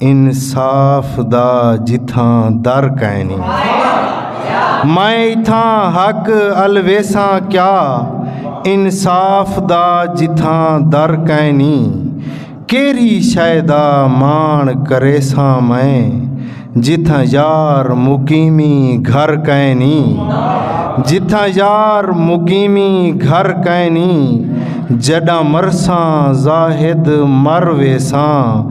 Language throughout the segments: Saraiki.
انصاف دا جتھاں در کائنی میں اتھاں حق ال ویساں کیا انصاف دا جتھاں در کائنی کیری شے دا مان کریساں میں جتھاں یار مقیمی گھر کائنی جتھاں یار مقیمی گھر کائنی جڈاں مرساں زاہد مر ویساں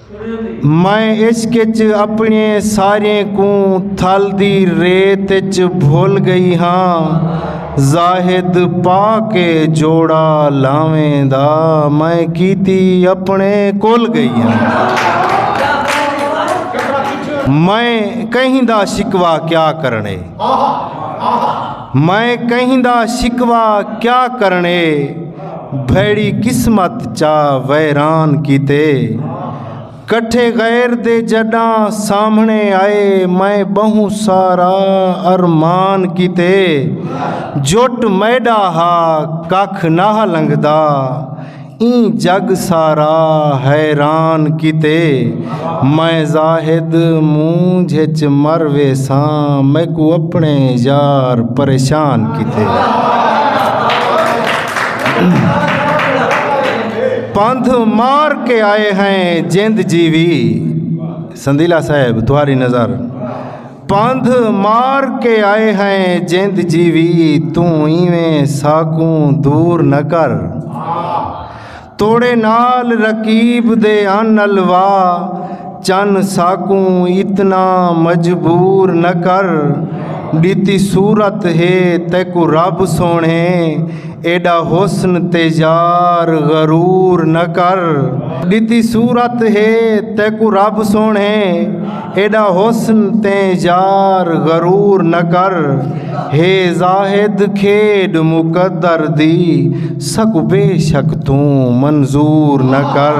میں عشق اچ اپنے سارے کوں تھل دی ریت اچ بھل گئی ہاں زاہد پا کے جوڑا لاویں دا میں کیتی اپنے کول گئی ہاں میں کہیں دا شکوا کیا کرنے میں کہیں دا شکوا کیا کرنے بھیڑی قسمت چا ویران کیتے کٹھے غیر دے جڈاں سامھنے آئے میں بہوں سارا ارمان کیتے جٹ میڈا ہا ککھ نہ لنگدا ایں جگ سارا حیران کیتے میں زاہد مونجھ اچ مر ویساں میکو اپنے یار پریشان کیتے پندھ مار کے آئے ہیں جند جیوی سندیلا صاحب تہاری نظر پندھ مار کے آئے ہیں جند جیوی توں ایویں ساکوں دور نہ کر توڑے نال رقیب دے ان الوا چن ساکوں اتنا مجبور نہ کر ڈتی صورت ہے تیکوں رب سوہنے ایڈا حسن تے یار غرور نہ کر ڈتی صورت ہے تیکوں رب سوہنے ایݙا حسن تے یار غرور نہ کر ہے زاہد کھیݙ مقدر دی سک بے شک توں منظور نہ کر